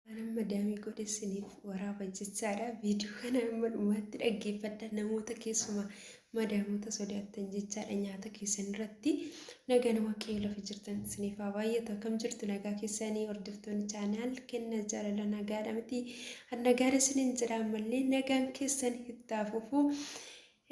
Waan amma daamii godhe isiniif waraaba jechaadha. Viidiyoo kana amma dhumaatti dhaggeeffadha namoota keessumaa madaamota sodaattan jechaadha nyaata keessan irratti nagaan waaqayyo lafa jirtan isiniif haa baay'atu akkam jirtu nagaa keessanii hordoftoonni chaanaal kenna jaalala nagaadha miti nagaadha isiniin jira ammallee nagaan keessan itti haa fufu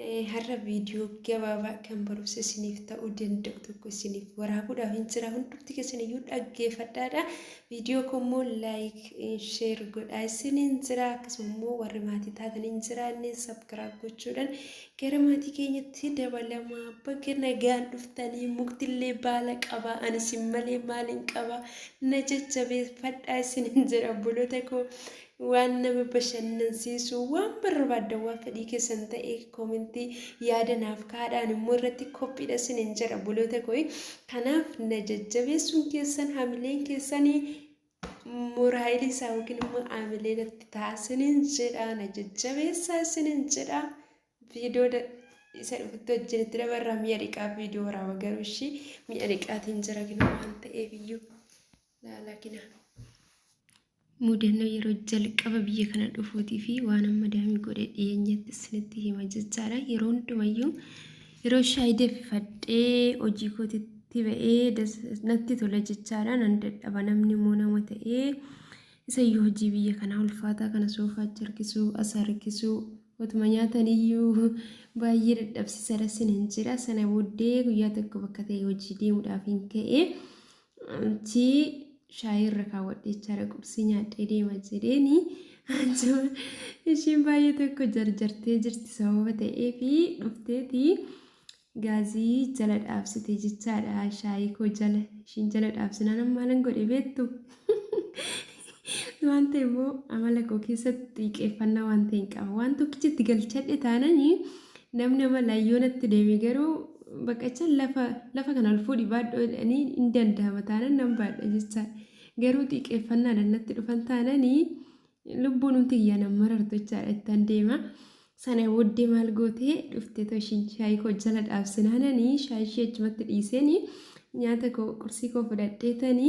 Ee, Har'a viidiyoo gabaabaa kan barumsa isiniif ta'uu danda'u tokko isiniif waraabuudhaaf hin jira. Hundumti keessan iyyuu dhaggeeffadhaadha. Viidiyoo koo immoo laayik, sheer godhaa isiniin jira. Akkasuma immoo warri maatii taatan hin jiraanne sabkiraab gochuudhaan gara maatii keenyatti dabalamaa baga nagaan dhuftanii muktillee baala qaba ani isin malee maaliin qaba na jajjabeeffadhaa isiniin jira obboloota koo. Waan nama bashannansiisu, waan barbaaddan, waan fedhii keessan ta'e koomentii yaada naaf kaadhaan immoo irratti kophiidha sinin jedha obboloota koo. Kanaaf na jajjabeessuun keessan hamileen keessan moraayilii isaa yookiin immoo hamilee natti ta'a sinin jedha na jajjabeessaa sinin jedha viidiyoo isa dhufutti wajjin itti dabarra mi'a dhiqaa viidiyoo waraaba garuu ishii mi'a dhiqaatiin jira gina waan ta'eef iyyuu. laalakina. Mudannoo yeroo jalqaba biyya kana dhufuutii fi waan amma daamii godhe dhiyeenyatti isinitti hima jechaadha. Yeroo hundumayyuu yeroo shaayii danfifadhee hojii kootitti ba'ee das- natti tola jechaadha. Nan dadhaba namni immoo nama ta'ee isayyuu hojii biyya kanaa ulfaataa kana soofaa achi harkisuu as harkisuu otuma nyaataniyyuu baay'ee dadhabsiisaadha sin hin jira. Sana booddee guyyaa tokko bakka ta'e hojii deemuudhaaf hin ka'e. Anchi shaayii irra kaawwadhe jechaadha qubsii nyaadhee deema jedheeni anjuma ishiin baay'ee tokko jarjartee jirti sababa ta'ee fi dhufteeti gaazii jala dhaabsite jechaadha shaayii koo jala ishiin jala dhaabsinaan maalan godhe beektu Waan ta'e immoo amala koo keessatti xiiqeeffannaa waan ta'e hin qaba. Waan tokkicha itti galchadhe taanani namni amala ayyoonatti deeme garuu baqacha lafa lafa kana ol fuudhi baadhoo jedhanii hin danda'ama taanan nan baadha jecha. Garuu xiiqeeffannaadhaan natti dhufan taanani lubbuun humti kiyyaa nan marartu jechaadha ittan deema. Sana booddee maal gootee dhufte too ishiin shaayii koo jala dhaabsinaanani shaayii ishee achumatti dhiiseni nyaata koo qursii koo fudhadheetani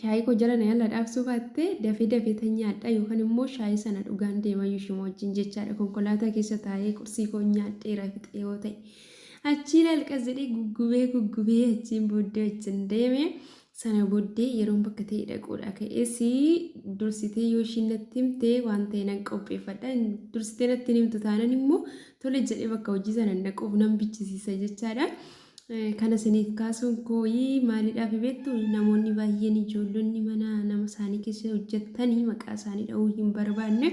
Shaayii koo jala na yalla dhaabsuu baatte dafee dafee tan nyaadha yookaan immoo shaayii sana dhugaan deemayyuu ishuma wajjin jechaadha konkolaataa keessa taa'ee qursii koo nyaadheera fixee yoo ta'e. Achii lalqas jedhee guggubee guggubee achiin booddee wajjin deeme sana booddee yeroon bakka ta'e dhaquudha ka'ees dursitee yoo ishiin natti himte waan ta'e nan qopheeffadha dursitee natti hin himtu taanan immoo tole jedhee bakka hojii sana hin dhaquuf nan bichisiisa jechaadha. Kana isiniif kaasuun kooyi maalidhaafi beektu namoonni baay'een ijoollonni mana nama isaanii keessa hojjettanii maqaa isaanii dha'uu hin barbaanne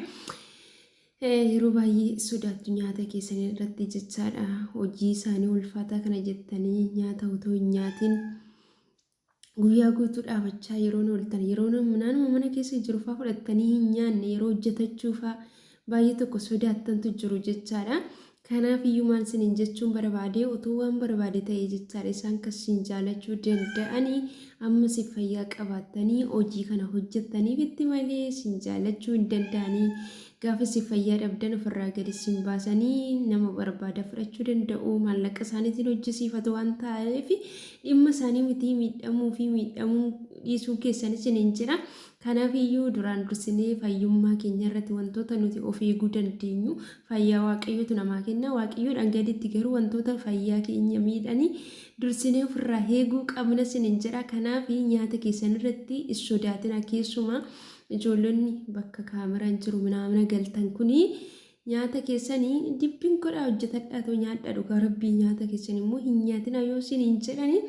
yeroo baay'ee sodaattu nyaata keessan irratti jechaadha hojii isaanii ulfaataa kana jettanii nyaata otoo hin nyaatin Guyyaa guutuu dhaabachaa yeroon ooltan yeroo naanuma mana keessa jiru fa'aa fudhattanii hin nyaanne yeroo hojjetachuu fa'aa baay'ee tokko sodaattantu jiru jechaadha. Kanaaf iyyuu maal isiniin jechuun barbaade otoo waan barbaade ta'e jechaadha isaan kan isin jaalachuu danda'anii ammas fayyaa qabaattanii hojii kana hojjettaniif itti malee isin jaalachuu hin danda'anii Gaafa isin fayyaa dhabdan ofirraa gad isin baasanii nama barbaadan fudhachuu danda'u. Maallaqa isaaniitiin hojjisiifatu waan ta'eef dhimma isaanii mitii miidhamuu fi miidhamuu dhiisuun keessan isin hin jira. Kanaaf iyyuu duraan dursinee fayyummaa keenya irratti wantoota nuti of eeguu dandeenyu fayyaa waaqayyootu namaa kenna. Waaqayyoodhaan gaditti garuu wantoota fayyaa keenya miidhanii dursinee ofirraa eeguu qabna isin hin jira. Kanaaf nyaata keessan irratti hin sodaatina keessumaa Ijoollonni bakka kaameraan jiru minaamina galtan kuni nyaata keessanii dibbiin godhaa hojjetadhaa too nyaadhaa dhugaa rabbii nyaata keessan immoo hin nyaatinaa yoo siin hin jedhani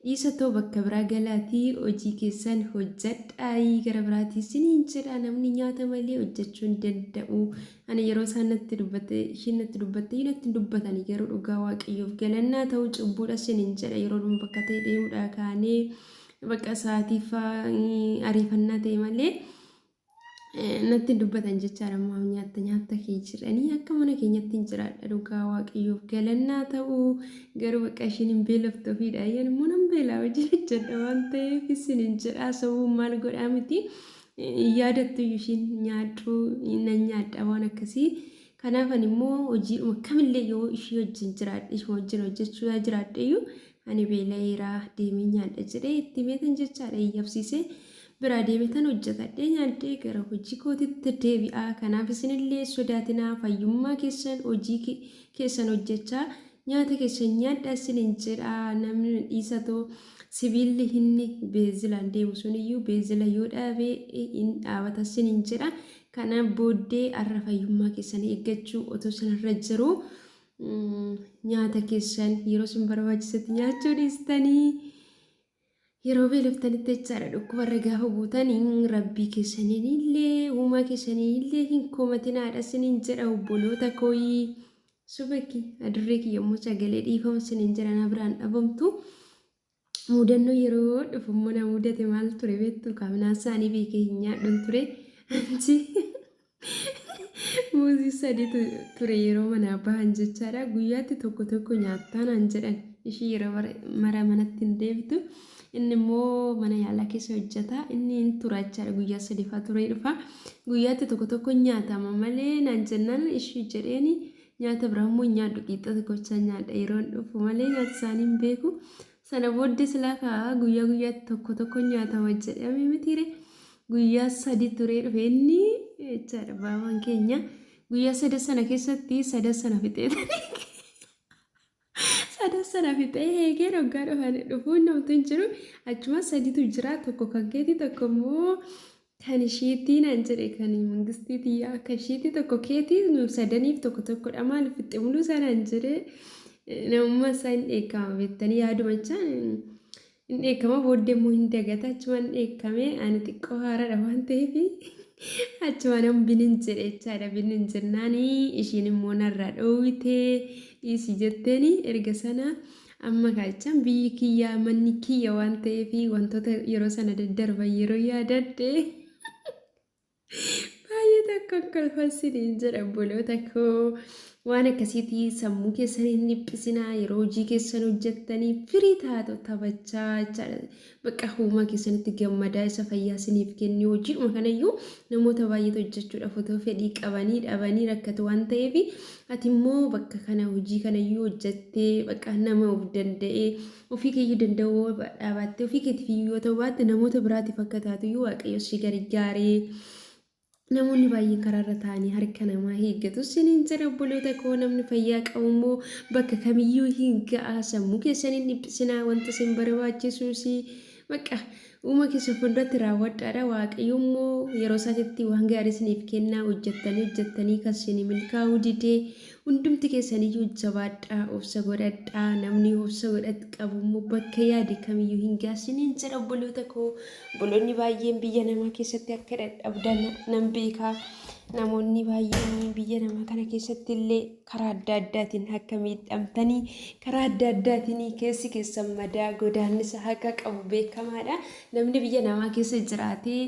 dhiisa too bakka biraa galaatii hojii keessan hojjedhaayii gara biraatii siin hin jedhaa namni nyaata malee hojjechuu hin danda'u ani yeroo isaan natti dubbatte ishiin natti dubbatte hin natti dubbatanii garuu dhugaa waaqayyoof galannaa ta'uu cubbuudha siin hin jedha yeroo dhuma bakka ta'e deemuudhaa kaanee Bakka sa'aatii faa ariifannaa ta'e malee natti dubbatan jechaadha maaf nyaatta nyaatta kee jedhanii akka mana keenyatti hin jiraadha dhugaa waaqayyoof galannaa ta'u garuu bakka ishiin hin beelofte ofiidha ayyan immoo nan beelaa wajjin hojjedha waan ta'eef isin hin jedhaa sawuu maal godhaa miti yaadattu ishiin nyaadhu nan nyaadha waan akkasii kanaafan immoo hojiidhuma kamillee yoo ishii wajjin jiraadhe ishuma wajjin hojjechuu yaa jiraadhe iyyuu Ani beela'eera, deemeen nyaadha jedhee itti himeetan jechaadha iyyabsiisee biraa deemetan hojjetadhee nyaadhee gara hojii kootitti deebi'aa. Kanaaf isinillee sodaatinaa fayyummaa keessan hojii keessan hojjechaa nyaata keessan nyaadha isinin jedha namni dhiisatoo sibiilli inni beezilaan deemu sun iyyuu beezila yoo dhaabe in dhaabata isinin jedha. Kana booddee arra fayyummaa keessan eeggachuu otoo isinirra jiru Nyaata keessan yeroo isin barbaachisetti nyaachuu dhiistanii yeroo beeloftanitti jechaadha dhukkubarra gaafa buutan rabbii keessaniin illee uumaa keessaniin illee hin komatinaadha sinin jedha obboloota kooyii subaki adurree kiyya immoo sagalee dhiifama sinin jedha na biraan dhabamtu Muudannoo yeroo dhufu immoo na muudate maal ture beektu kaaminaan isaanii beekee hin nyaadhun ture. Anchi muuzii sadiitu ture yeroo manaa bahan jechaadha. Guyyaatti tokko tokko nyaattaa naan jedhan ishii yeroo mara manatti hin deebitu. Inni immoo mana yaalaa keessa hojjeta. Inni hin tura jechaadha guyyaa sadiifaa turee dhufa. Guyyaatti tokko tokko nyaatama malee naan jennaan ishii jedheeni Nyaata biraa immoo hin nyaadhu qiixxa tokko bichaan nyaadha yeroon dhufu malee nyaata isaanii hin beeku. Sana booddee silaa kaa guyyaa guyyaatti tokko tokko nyaatama jedhame mitiire guyyaa sadi turee dhufe inni jechaadha baabaan keenya guyyaa sadan sana keessatti sadan sana fixeetanii Sadan sana fixee heegeen oggaa dhufan dhufuun namtu hin jiru. Achumaan saditu jira tokko kan keetii tokko immoo kan ishiitii naan jedhe kan mangistii tiyyaa kan ishiitii tokko keetii nu sadaniif tokko tokkodha maal fixxe muluu isaa naan jedhe namummaa isaa hin dheekkaama beektanii yaadumachaa. Hin dheekkama booddee immoo hin dagata achumaan dheekkame ani xiqqoo haaradha waan ta'eef achumaan an binin jedhe jechaadha binin jennaani ishiin immoo narraa dhoowwite dhiisi jetteeni erga sana amma kaachaan biyyi kiyyaa manni kiyya waan ta'eef wantoota yeroo sana daddarban yeroo yaadadhe Baay'ee takka kolfan siniin jedha obboloota koo. Waan akkasiitii sammuu keessan hin dhiphisinaa yeroo hojii keessan hojjettanii firii taatu taphachaa jechaadha. Bakka uumaa keessanitti gammadaa isa fayyaa siniif kenni hojiidhuma kanayyuu namoota baay'eetu hojjechuudhaaf otoo fedhii qabanii dhabanii rakkatu waan ta'eef ati immoo bakka kana hojii kanayyuu hojjettee bakka nama of danda'ee Ofii keeyyuu danda'uu yoo dhaabaatte, ofii keetiif iyyuu yoo ta'uu baatte, namoota biraatiif akka taatu iyyuu Waaqayyo si gargaaree namoonni baay'een karaarra taa'anii harka namaa hiiggatu siniin jedha obboloota koo namni fayyaa qabu immoo bakka kamiyyuu hin ga'a sammuu keessan hin dhiphisinaa wanta isin barbaachisuus bakka Uuma keessa fuulduratti raawwadhaadha. Waaqayyo immoo yeroo isaatitti waan gaarii isiniif kennaa hojjettanii hojjettanii kan isinii milkaa'uu didee hundumti keessaniyyuu jabaadhaa obsa godhadhaa namni obsa godhatu qabu immoo bakka yaade kamiyyuu hin gaasiin hin jedha obboloota koo obboloonni baay'een biyya namaa keessatti akka dadhabdan nan beekaa namoonni baay'een biyya namaa kana keessatti illee karaa adda addaatiin akka miidhamtanii karaa adda addaatiin keessi keessan madaa godaannisa haqa qabu beekamaadha. Namni biyya namaa keessa jiraatee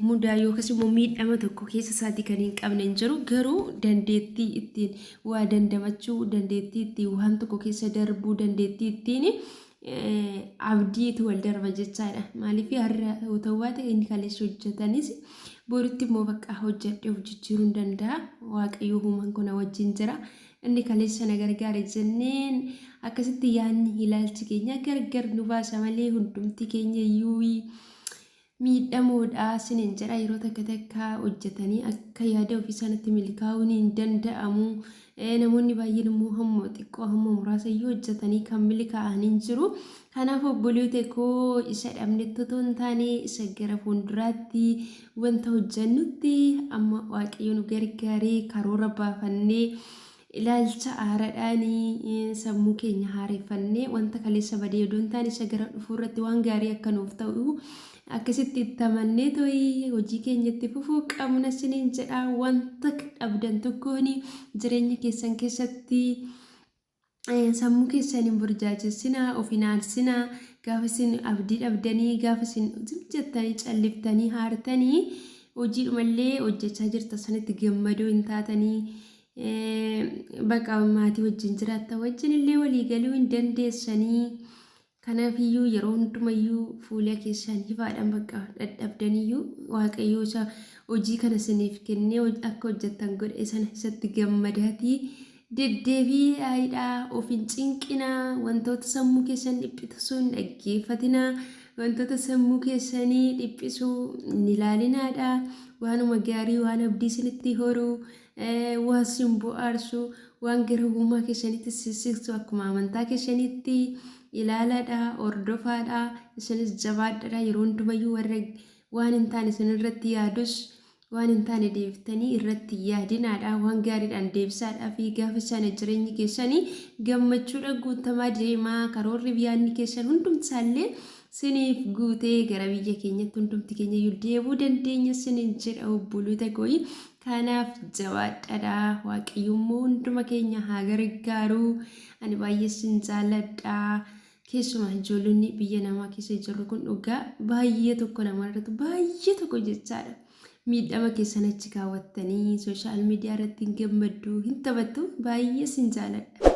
mudaa yookas immoo miidhama tokko keessa isaatii kan hin qabne hin jiru. Garuu dandeettii ittiin waa dandamachuu, dandeettii ittiin waan tokko keessa darbuu, dandeettii ittiin abdiitu wal darba jechaadha. Maaliif har'a yoo ta'u baate inni kaleessa hojjetanis boritti immoo bakka hojjedhee of jijjiiruu hin danda'a. Waaqayyo uumaan kun na wajjin jira. Inni kaleessa na gargaare jenneen akkasitti yaadni ilaalchi keenya gargar nu baasa malee hundumti keenya iyyuu miidhamoodha sinin jedha yeroo takka takka hojjetanii akka yaada ofii isaanitti milkaa'uun hin danda'amu namoonni baay'een immoo hamma xiqqoo hamma muraasa iyyuu hojjetanii kan milkaa'an hin jiru kanaaf obboleewwan koo isa dhabnetti otoo hin taane isa gara fuulduraatti wanta hojjennutti amma waaqayyo nu gargaaree karoora baafannee Ilaalcha haaraadhaan sammuu keenya haareffannee wanta kaleessa badee odoo hin taane isa gara dhufuu irratti waan gaarii akka nuuf ta'u akkasitti itti amannee to'i hojii keenya itti fufuu qabna siniin jedha wanta dhabdan tokkoon jireenya keessan keessatti sammuu keessan hin burjaajessinaa of hin aarsinaa gaafa isin abdii dhabdanii gaafa isin zim jettanii calliftanii haartanii hojiidhumallee hojjechaa jirta sanitti gammadoo hin taatanii Baqa maatii wajjin jiraatta wajjin illee walii galuu hin dandeessanii. Kanaafiyyuu yeroo hundumayyuu fuula keessaan hifaadhaan baqa dhadhabdaniyyuu waaqayyoo isa hojii kana isiniif kennee akka hojjettan godhe sana isatti gammadaatii deddeebii aayidhaa of hin cinqinaa wantoota sammuu keessan dhiphisu hin dhaggeeffatinaa wantoota sammuu keessanii dhiphisu hin ilaalinaadha waanuma gaarii waan abdii isinitti horuu waan sin bu'aarsu waan gara ogummaa keessanitti sissiqtu akkuma amantaa keessanitti ilaalaadha hordofaadha isinis jabaadhadha yeroo hundumayyuu warra waan hin taane isin irratti yaadus waan hin taane deebiftanii irratti yaadinaadha waan gaariidhaan deebisaadha fi gaafa sana jireenyi keessanii gammachuudha guutamaa deemaa karoorri biyyaanni keessan hundumsaallee siniif guutee gara biyya keenyatti hundumti keenya iyyuu deebuu dandeenya sinin jedha obboloota kooyi Kanaaf jabaadhadha waaqayyommoo hunduma keenya haa gargaaru ani baay'ee sin jaalladha keessumaa ijoollonni biyya namaa keessa jirru kun dhugaa baay'ee tokko namarratti baay'ee tokko jechaadha miidhama keessan achi kaawwattanii sooshaal miidiyaa irratti hin gammaddu hin taphattu baay'ee sin jaalladha.